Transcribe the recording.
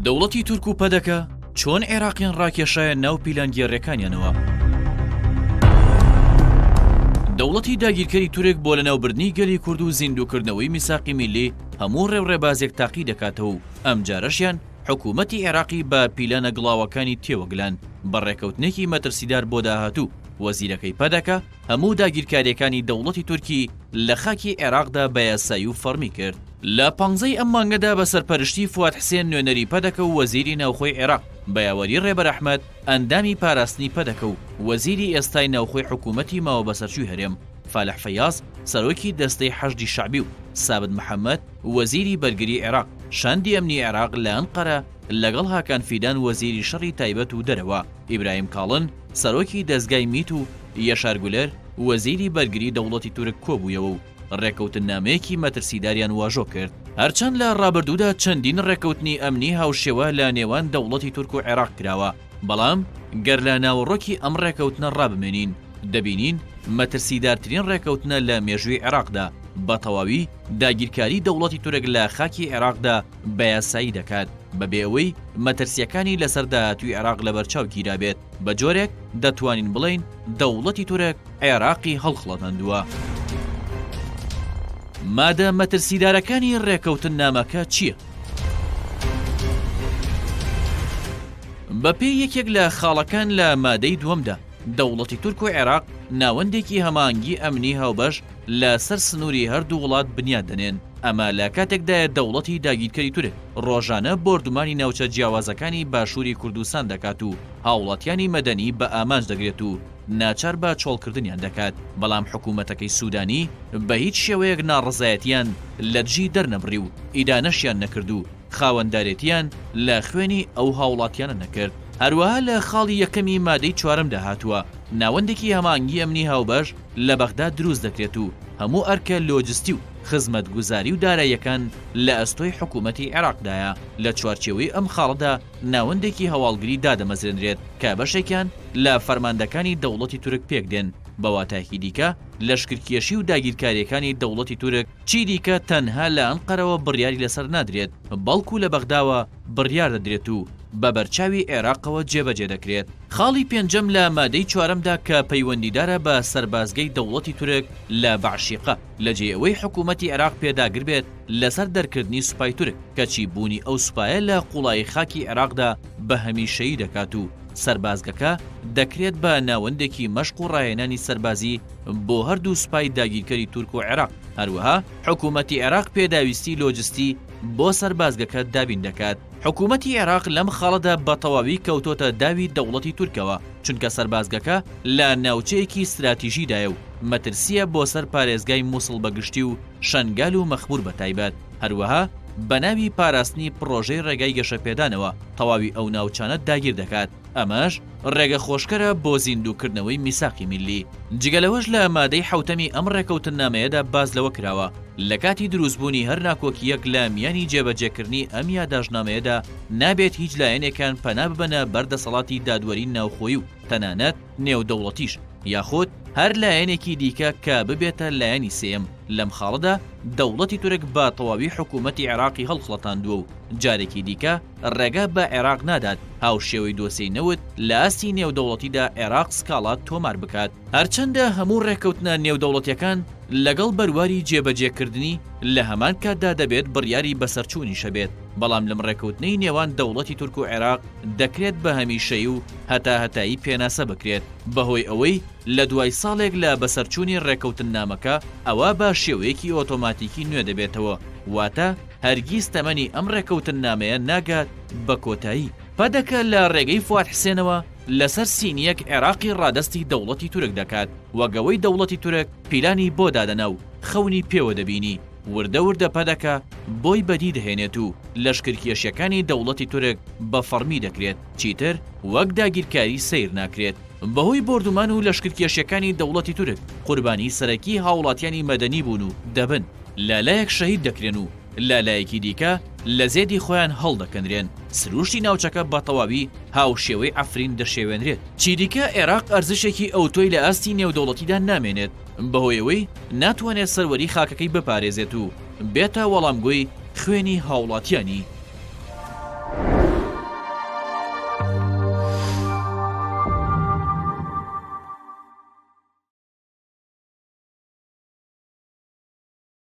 دەوڵەتی تورک و پەدەکە چۆن عێراقیان ڕاکێشایە ناو پیلانگێڕەکانیانەوە دەوڵەتی داگیرکەری تورک بۆ لەناوبردنی گەلی کورد و زیندوکردنەوەی میساقی میلی هەموو ڕێوڕێبازێک تاقی دەکاتەوە و ئەم جارەشیان حکوومەتی عێراقی بە پیلانە گڵاوەکانی تێوەگلان بە ڕێکەوتنێکی مەترسیدار بۆ داهاتوو وەزیرەکەی پەدەکە هەموو داگیرکاریەکانی دەوڵەتی تورکی لە خاکی عێراقدا بە یاسایی و فەڕمی کرد. لە پانزەی ئەم مانگەدا بە سەرپەرشتی فواد حسێن نوێنەری پەدەکە و وەزیری ناوخۆی عێراق، بە یاوەری رێبەر ئەحمەد، ئەندامی پاراستنی پەدەکە و وەزیری ئێستای ناوخۆی حکوومەتی ماوەبەسەرچووی هەرێم، فالح فەیاز، سەرۆکی دەستەی حەشدی شەعبی و سابت محەمەد، وەزیری بەرگری عێراق، شاندی ئەمنی عێراق لە ئەنقەرە، لەگەڵ هاکان فیدان وەزیری شەڕی تایبەت و دەرەوە، ئیبراهیم کاڵن، سەرۆکی دەزگای میت و یەشار گولەر وەزیری بەرگری دەوڵەتی تورک کۆبوویەوە و ڕێکەوتننامەیەکی مەترسیداریان واژۆ کرد. هەرچەند لە ڕابردوودا چەندین ڕێکەوتنی ئەمنی هاوشێوە لە نێوان دەوڵەتی تورک و عێراق کراوە، بەڵام گەر لە ناوەڕۆکی ئەم ڕێکەوتنە ڕابمێنین، دەبینین مەترسیدارترین ڕێکەوتنە لە مێژووی عێراقدا، بەتەواوی داگیرکاری دەوڵەتی تورک لە خاکی عێراقدا بەیاسایی دەکات. بەبێ ئەوەی مەترسییەکانی لەسەر داهاتووی عێراق لەبەرچاو گیرابێت، بە جۆرێک دەتوانین بڵێین دەوڵەتی تورک عێراقی هەڵخڵەتاندووە. مادە مەترسیدارەکانی ڕێککەوتننامەکە چییە؟ بەپێی یەکێک لە خاڵەکان لە مادەی دووەمدا، دەوڵەتی تورک و عێراق ناوەندێکی هەماهەنگی ئەمنی هاوبەش لەسەر سنووری هەردوو وڵات بنیات دەنێن، ئەمە لە کاتێکدایە دەوڵەتی داگیرکەری تورک، ڕۆژانە بۆردومانی ناوچە جیاوازەکانی باشووری کوردستان دەکات و هاوڵاتیانی مەدەنی بە ئامانج دەگرێت و ناچار بە چۆڵکردنیان دەکات، بەڵام حکوومەتەکەی سوودانی بە هیچ شێوەیەک ناڕەزایەتییان لە دژی دەرنەبڕی و ئیدانەشیان نەکرد و خاوەندارێتییان لە خوێنی ئەو هاوڵاتییانە نەکرد. هەروەها لە خاڵی یەکەمی مادەی چوارەمدا هاتووە، ناوەندێکی هەماهەنگی ئەمنی هاوبەش لە بەغدا دروست دەکرێت و هەموو ئەرکە لۆجستی و. خزمەتگوزاری و داراییەکان لە ئەستۆی حکوومەتی عێراقدایە، لە چوارچێوەی ئەم خاڵەدا ناوەندێکی هەواڵگری دادەمەزرێنرێت کە بەشێکیان لە فەرماندەکانی دەوڵەتی تورک پێکدێن، بە واتایەکی دیکە لەشکرکێشی و داگیرکارییەکانی دەوڵەتی تورک چیدیکە تەنها لە ئەنقەرەوە بڕیاری لەسەر نادرێت، بەڵکو لە بەغداوە بڕیار دەدرێت و بە بەرچاوی عێراقەوە جێبەجێ دەکرێت. خاڵی پێنجەم لە مادەی چوارەمدا کە پەیوەندیدارە بە سەربازگەی دەوڵەتی تورک لە بەعشیقە، لە جێی ئەوەی حکوومەتی عێراق پێداگر بێت لەسەر دەرکردنی سوپای تورک، کەچی بوونی ئەو سوپایە لە قووڵایی خاکی عێراقدا بە هەمیشەیی دەکات و سەربازگەکە دەکرێت بە ناوەندێکی مەشق و ڕاهێنانی سەربازی بۆ هەردوو سوپای داگیرکەری تورک و عێراق. هەروەها حکوومەتی عێراق پێداویستی لۆجستی بۆ سەربازگەکە دابین دەکات. حکوومەتی عێراق لەم خاڵەدا بە تەواوی کەوتۆتە داوی دەوڵەتی تورکەوە. چونکە سەربازگەکە لە ناوچەیەکی ستراتیژیدایە و مەترسییە بۆ سەر پارێزگای مووسڵ بە گشتی و شەنگال و مەخموور بە تایبەت، هەروەها بە ناوی پاراستنی پڕۆژەی ڕێگای گەشەپێدانەوە تەواوی ئەو ناوچانە داگیر دەکات، ئەمەش ڕێگە خۆشکەرە بۆ زیندووکردنەوەی میساقی میللی. جگە لەوەش لە مادەی حەوتەمی ئەم ڕێکەوتننامەیەدا باس لەوە کراوە لە کاتی درووستبوونی هەر ناکۆکییەک لە میانی جێبەجێکردنی ئەم یاداشتنامەیەدا، نابێت هیچ لایەنێکان پەنا ببەنە بەر دەسەڵاتی دادوەری ناوخۆیی و تەنانەت نێودەوڵەتیش یاخود هەر لایەنێکی دیکە کە ببێتە لایەنی سێیەم، لەم خاڵەدا دەوڵەتی تورک بە تەواوی حکوومەتی عێراقی هەڵخڵەتاندووە و جارێکی دیکە ڕێگا بە عێراق نادات هاوشێوەی دۆسێی نەوت لە ئاستی نێودەوڵەتیدا عێراق سکاڵا تۆمار بکات. هەرچەندە هەموو ڕێککەوتنە نێودەوڵەتییەکان لەگەڵ بەرواری جێبەجێکردنی لە هەمان کاتدا دەبێت بڕیاری بەسەرچوونیشە بێت، بەڵام لەم ڕێکەوتنەی نێوان دەوڵەتی تورک و عێراق دەکرێت بە هەمیشەیی و هەتاهەتایی پێناسە بکرێت بەهۆی ئەوەی لە دوای ساڵێک لە بەسەرچوونی ڕێکەوتننامەکە ئەوا با شێوەیەکی ئۆتۆماتیکی نوێ دەبێتەوە واتە هەرگیز تەمەنی ئەم ڕێکەوتننامەیە ناگات بە کۆتایی پەدەکە لە ڕێگەی فواد حسێنەوە لەسەر سینیەک عێراقی ڕادەستی دەوڵەتی تورک دەکات وەگەوەی دەوڵەتی تورک پیلانی بۆ دادەنا و خەونی پێوە دەبینی وردە وردە پەدەکە بۆی بەدی دەهێنێت و لەشکرکێشیەکانی دەوڵەتی تورک بە فەڕمی دەکرێت، چیتر وەک داگیرکاری سەیر ناکرێت. بەهۆی بۆردومان و لەشکرکێشیەکانی دەوڵەتی تورک قوربانی سەرەکی هاوڵاتیانی مەدەنی بوون و دەبن، لالایەک شەهید دەکرێن و لالایەکی دیکە لە زێدی خۆیان هەڵدەکەنرێن، سروشتی ناوچەکە بە تەواوی هاوشێوەی عەفرین دەشێوێنرێت. چیدیکە عێراق ئەرزشێکی ئەوتۆی لە ئاستی نێودەوڵەتیدا نامێنێت، بەهۆی ئەوەی ناتوانێت سەروەری خاکەکەی بپارێزێت و بێتە وەڵامگۆی خوێنی هاوڵاتیانی.